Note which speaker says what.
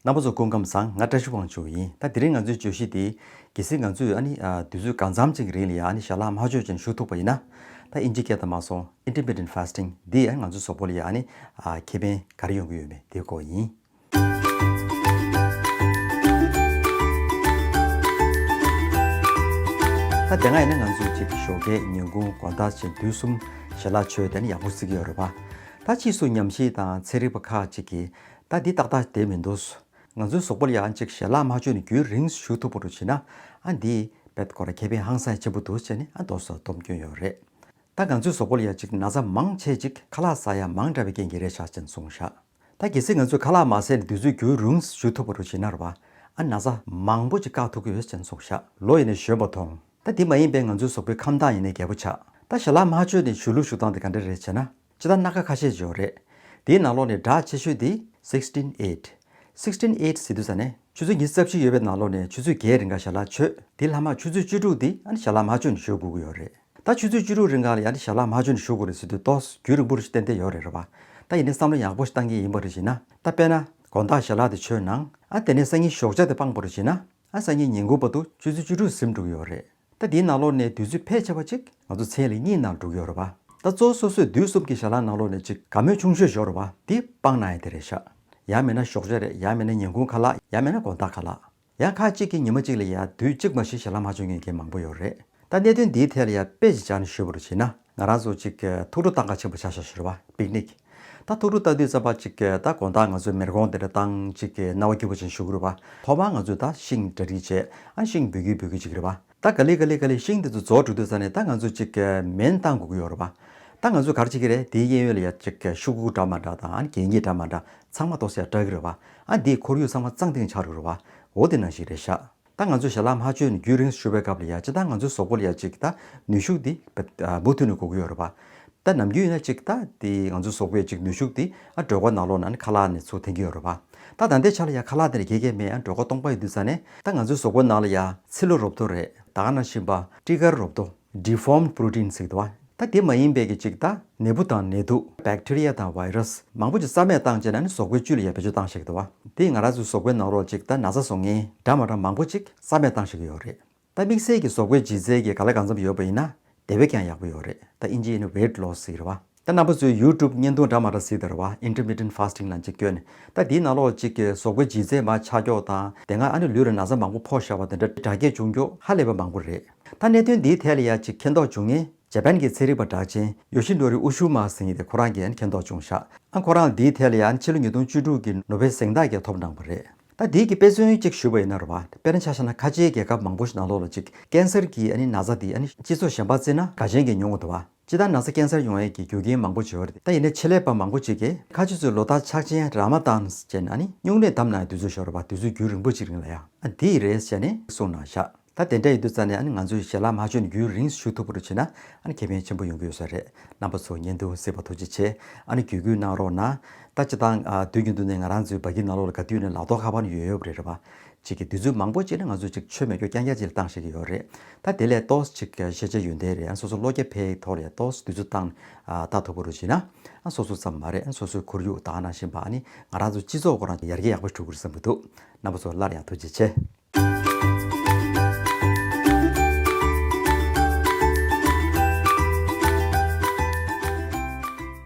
Speaker 1: རྣམ་པ་ཚོ་སྐུ་ཁམས་བཟང་ང་བཀྲ་ཤིས་དབང་ཕྱུག་ཡིན་ད་དེ་རིང་ང་ཚོའི་བརྗོད་གཞི་དེ། གལ་སྲིད་ང་ཚོས་ཨ་ནི་དུས་ཚོད་གང་འཚམ་ཅིག་གི་རིང་ལ་ཡང་ཨ་ནི་ཞྭ་ལྷག་མ་གཅོད་ཅིང་བཞུགས་ཐུབ་པ་ཡིན་ན། ད་ཨིན་ཇི་སྐད་ད་མ་སོང Intermittent Fasting འདི་ཡང་ང་ཚོའི་ཟོག་པོ་ལ་ཡང་ཨ་ནི་ཁེ་ཕན་ག་རེ་ཡོང་གི་ཡོད་མེད་དེའི་སྐོར་ཡིན། ད་དེ་སྔ་ཡིན་ན་ང་ཚོས་ཅིག་ཞོ་ཁའི་ཉིན་གུང་དགོང་ལྟ་བཞིན་དུས་གསུམ་ཞྭ་ལྷག་མཆོད་དེ་ཨ་ནི་ཡག་པོ་བརྩི་གི་ཡོད་རེད་པ། ད་ཕྱིས་སུ་ཉམས་ཞིབ་དང་ཚན་རིག་པ་ཁག་ཅིག་གིས་ད་འདི་ཏག་ཏག་བསྡད་མི་འདུག། ང་ཚོའི་ཟོག་པོར་ཡང་ཅིག་ཞལ་ལག་མ་བཅོས་ནས་རྒྱུན་རིང་ཞུ་ཐུབ་པོ་རུ་བྱེད་ན་ཨ་འདི་བེད་ཀོ་ར་ཁེ་ཕན་ཧང་སང་ཆེན་པོ་འདུག་ཅེས་ནས་ཨ་མདོ་སོགས་བསྡོམས་སྐྱོན་ཡོད་རེད། ད་ང་ཚོའི་ཟོག་པོར་ཡང་ཅིག་ན་ཚ་མང་ཆེ་ཅིག་ཁ་ལག་ཟ་ཡ་མང་འདྲ་བའི་རྐྱེན་གྱིས་རེད་ཤག་ཅེས་གསུངས་ཤག་ད་གལ་སྲིད་ང་ཚོས་ཁ་ལག་མ་ཟས་ནས་དུས་ཚོད་རྒྱུན་རུང་ཞུ་ཐུབ་པོ་རུ་བྱེད་ན་ར་བ་ཨ་ན་ཚ་མང་པོ་ཅིག་བཀག་ཐུབ་ཀྱི་ཡོད་ཅེས་གསུངས་ཤག་ལོ་ཡིན་ནས་གཞོན་པོ་མཐོང་ད་འདི་མ་ཡིན་པའི་ང་ཚོའི་ཟོག་པོའི་ཁམས་སྟངས་ཡིན་ནས་རྒད་པོ་ཆགས་ད་ཞལ་ལག་མ་བཅོས་ནས་ཞུ་ལུགས་ཞུ་སྟངས་དེ་ག་འདྲ་རེད་བྱས་ན། ལྕེ་དང་སྣ་ཁ་ཁ་ཤས་འབྱོར། རེད་དེའི་ནང་ལོགས་ནས་སྒྲ་ཆེ་ཤོས་དེ། Sixteen Eight Sixteen Eight ཟེར་དུས་ས་ནས་ཆུ་ཚོད་ཉི་རྩ་བཞི་ཡོད་པའི་ནང་ལོགས་ནས་ཆུ་ཚོད་བརྒྱད་རིང་ག་ཞྭ་ལ་ཆོས་དེ་ལྷག་མ་ཆུ་ཚོད་བཅུ་དྲུག་དེ་ཨ་ནི་ཞྭ་ལ་མ་ཆོས་ནས་ཞོག་གུ་གུ་ཡོད་རེད་ད་ཆུ་ཚོད་བཅུ་དྲུག་རིང་ག་ལ་ཡ་ནི་ཞྭ་ལ་མ་ཆོས་ནས་ཞོག་གུ་རེད་ཟེར་དུས་ཏོག་རྒྱུས་རིང་པོ་རེ་ཞིག་ཏན་ཏན་ཡོད་རེད་རེད་བ་ད་ཡིན་ནའི་བསམ་བློ་ཡག་པོ་ཞིག་བཏང་གི་ཡིན་པ་རེ་བྱེད་ན་ད་དཔེ་ན་དགོན་བདག་ཞྭ་ལ་དེ་ཆོས་ནང་ཨ་དེ་ནས་སང་ཉིན་ཞོག་ཆ་དེ་སྤངས་པོ་རེ་བྱེད་ན་ཨ་སང་ཉིན་ཉིན་གུང་པ་དུ་ཆུ་ཚོད་བཅུ་དྲུག་ཟིམ་འགྲུག་གི་ཡོད་རེད། ད་འདིའི་ནང་ལོགས་ནས་དུས་ཚོད་ཕལ་ཆེ་བ་ཅིག་ང་ཚོ་ཚེས་ལས་གཉིས་ནང་འགྲུག་ཡོད་རེད་བ། ད་གཙོ་སོ་སོས་དུས་གསུམ་གྱི་ཞར་ལངས་ནང་ལོགས་ནས་ཅིག་ག་མོད་ཆུང་ཤོས་བཞོག་རེད་བ་འདི་སྤང་ན་ཡང་དེ་རེད་ཤག། ཡང་མེད་ན་ཞོགས་ཟས་རེད་ཡང་མེད་ན་ཉིན་གུང་ཁ་ལག་ཡང་མེད་ན་དགོང་དག་ཁ་ལག། ཡང་ཁག་ཅིག་གིས་ཉི་མ་གཅིག་ལ་ཡང་དུས་གཅིག་མ་ཞིག་ཞར་ལངས་མ་བྱུང་མཁན་གྱི་མང་པོ་ཡོད་རེད་ད་གནད་དོན་འདིའི་ཐད་ལ་ཡང་དཔེ་ཅིག་སྦྱར་ནས་ཞུ་བ་རུ་བྱེད་ན། ང་རང་ཚོ་ཅིག་ཐུགས་སྤྲོ་སྟངས་ཀ་ཆེན་པོ་བྱ་ཞོག་ཞེས་པ་པིག་ནིག། ད་ཐུགས་སྤྲོ་ལྟ་དུས་རྩམ་པ་ཅིག་ད་དགོང་དག་ང་ཚོའི་མེར་གོང་འདི་འདྲ་བཏང་ཅིག་རྣ་བ་སྐྱིད་པོ་ཅན་ཞུགས་རུས་པ་ཐོག་མར་ང་ཚོས་ད་ཤིང་གྲ་སྒྲིག་བྱས་ཨ་ཤིང་འབུད་ཁུལ་འབུད་ཁུལ་ཅིག་རེད་པ་ད་ག་ལི་ག་ལི་ག་ལི་ཤིང་འདི་ཚོ་རྫོགས་འགྲོ་དུས་ས་ནས་ད་ང་ཚོ་ཅིག་མེན་བཏང་དགོས་ཀྱི་ཡོད་རུས་པ་ད་ང་ཚོས་གར་བྱེད་ཀྱི་རེད་དེའི་གཡས་གཡོན་ལ་ཡ་ཅིག་ཤུག་ཁུག་འདྲ་མ་འདྲ་དང་གད་སྙིགས་འདྲ་མ་འདྲ་ཚང་མ་གཏོར་ས་ཡ་སྐྲག་གི་རུས་པ་ཨ་འདིས་ཁོར་ཡུག་ཚང་མ་གཙང་ཏིང་ཆགས་རུས་རུས་པ་འོ་འདི་ནང་ཞིག་རེད་ཤག། ད་ང་ཚོས་ཞལ་ལག་མ་ཆོད་ནས་རྒྱུན་རིང་ཞུ་བའི་སྐབས་ལ་ཡ་ཅི་ད་ང་ཚོའི་ཟོག་པོ་ལ་ཡ་ཅིག་ད་ནུས་ཤུགས་འདི་མུ་མཐུད་ནས་དགོས་ཀྱི་ཡོད་རེད་པ། ད་ནམ་རྒྱུན་ཡིན་ན་ཅིག་ད་དེ་ང་ཚོའི་ཟོག་པོ་ཡ་ཅིག་ནུས་ཤུགས་འདི་ཨ་འགྲོས་སྒོ་ནག་ལོག་ན་ནི་ཁ་ལག་ནས་ཚུར་འཐེན་གྱི་ཡོད་རེད་པ། ད་ད་ལྟའི་ཆ་ལ་ཡ་ཁ་ལག་འདི་ལ་དགེ་རྒན་མས་ཨ་འགྲོས་སྒོ་སྟོང་པ་ཡི་དུས་ཚ་ནས་ད་ང་ཚོའི་ཟོག་པོ་ནང་ལ་ཡ་ཚི་ལུ་རོབ་ཏོ་རེད་ད་ཨ་ན་ཤིང་པ་ཀྲི་ཀར་རོབ་ཏོ། Deformed Protein ཟེར་གི་འདུག་བ། ད་དེ་མ་ཡིན་པའི་གི་ཅིག་ད་ནད་འབུ་དང་ནད་དུག Bacteria དང Virus མང་པོ་ཅིག་རྩ་མེད་བཏང་བྱས་ན་ནི་ཟོག་པོའི་བཅུད་ལ་ཡར་བེད་སྤྱོད་བཏང་ཤེས་གི་འདུག་བ། དེས་ང་ར་ཚོའི་ཟོག་པོའི་ནང་རོ་ཅིག་ད་ན་ཚ་སོ་ངན་འདྲ་མ་འདྲ་མང་པོ་ཅིག་རྩ་མེད་བཏང་ཤེས་གི་ཡོད་རེད། ད་དམིགས་བསལ་གི་ཟོག་པོའི་ལྗིད་ཚད་གི་ག་ལ་གང་འཚམ་ཡོད་པ་ཡིན་ན་དེ་བས་ཀྱང་ཡག་པོ་ཡོད་རེད་ད་ཨིན་ཇི་ཡིན་ན Weight Loss ཟེར་གི་རེད་བ། ད་ནང་པ་ཚོས་ཡུའུ་ཀྲུབ་བརྙན་ཐུང་འདྲ་མ་འདྲ་གཟིགས་དར་བ Intermittent Fasting ལ་འཇིགས་སྐྱོ་ནས་ད་དེའི་ནང་ལོག་ཅིག་གི་ཟོག་པོའི་ལྗིད་ཚད་མ་ཆ་འཁྱོག་དང་དེ་སྔ་ཨ་ནུ་ལུས་ལ་ན་བཟའ་མང་པོ་ཕོག་ཤ་བ་དེ་འདྲ་དྲག་སྐྱེད་འབྱུང་མགྱོགས་ཧ་ལས་པ་མང་པོ་རེད་ད་གནད་དོན་འདིའི་ཐད་ལ་ཡ་ཅིག་མཁྱེན་རྟོགས་འབྱུང་ངེས་རྗ་པན་གྱི་ཚན་རིག་པ་གྲགས་ཅན་ཡོ་ཤི་ནོ་རི་ཨུ་ཤུ་མ་སིང་དེ་ཁོ་རང་གིས་མཁྱེན་རྟོགས་འབྱུང་ཤག་ཨ་ཁོ་རང་འདིའི་ཐད་ལ་ཡ་ཕྱི་ལོ་ཉིས་སྟོང་བཅུ་དྲུག་གི་ནོ་བྷེལ་གཟེངས་རྟགས་ཀྱི་ཐོབ་འབྲང་པ་རེད་ད་དེའི་གི་དཔེ་མཚོན་གཅིག་ཞུས་པ་ཡིན་ན་རོ་དཔེར་ན་ཆ་ཤ་ན་ཁ་ཆེའི་རྒྱལ་ཁབ་མང་པོ་ཞིག་ནང་ལོག་ལ་ཅིག་ཀན་སར་གྱི་ཨ་ནི་ན་བཟའ་དེ་ཨ་ནི་སྤྱི་ཚོགས་གཞན་པ་རྩི་ན་དགའ་ཞེན་གྱི་མྱོང་ངོ་དུ་བ། སྤྱི་དང་ན་ཚ་སྐྱེན་སར་ཡོང་ཡས་ཀྱི་རྒྱུ་རྐྱེན་མང་པོ་འབྱོར་ཏེ་ད་ཡིན་ན་ཆེད་ལས་པ་མང་པོ་བྱེད་དགོས། ཁ་ཆུ་ཚོས་ལོ་ལྟར་ཕྱག་ཆེན་ར་མ་ཏཱན་བྱས་ན་ནི་སྨྱུང་གནས་བསྡམས་ན་དུས་ཚོད་ཤོར་བ་དུས་ཚོད་རྒྱུན་རིང་པོ་ཅིག་རིང་ལ་ཡང་དེ་ཡི་རེད་བྱས་ནས་གསུངས་ན་བཞག་ད་དེ་འདྲ་ཡོད་དུས་རྩ་ནས་ང་ཚོས་ཞལ་ལག་མ་བཅོས་ནས་རྒྱུན་རིང་བཞུགས་ཐུབ་པོར་བྱས་ན་ཁེ་ཕན་ཆེན་པོ་ཡོང་གི་ཡོད་ས་རེད་རྣམ་པ་ཚོ་བརྙན་ཐུང་གཟིགས་པ་ཐུགས་རྗེ་ཆེ་བརྒྱུད་སྐུལ་གནང་རོགས་གནང། ད་སྤྱི་དང་དུས་ཀྱི་མདུན་ནས་ང་རང་ཚོའི་བ་གི་ནང་ལོག་ལ་ག་དུས་ནས་ལག་ཐོག་ཁ་པར་ནི་ཡོད་ཡོད་རེད་རེད་བ། ཅིག་གི་དུས་ཚོད་མང་པོ་སྤྱད་ན་ང་ཚོ་ཅིག་ཆོད་མེད་རྒྱོ་རྐྱང་རྐྱང་ཅིག་ལ་བཏང་ཤེས་ཀྱི་ཡོད་རེད། ད་དེ་ལས་ལྟོས་ཅིག་ཤེས་བྱའི་ཡོན་ཏན་རེད་ཨང་སོ་སོ་བློ་རྒྱ་འཕེལ་ཡི་ཐོག་ལས་ལྟོས་དུས་ཚོད་བཏང་ནས་ལྟ་ཐུབ་པོ་རུ་བྱེད་ན། ཨང་སོ་སོ་ཙམ་མ་རེད་ཨང་སོ་སོའི་ཁོར་ཡུག་དག་ནང་བཞིན་པ་ནི་ང་རང་ཚོ་སྤྱི་ཚོགས་སྐོར་ནང་ཡར་རྒྱས་ཡག་པོ་འགྲོ་གི་རེད་བསམ་གྱི་འདུག་རྣམ་པ་ཚོ་སླར་ཡང་ཐུགས་རྗེ་ཆེ།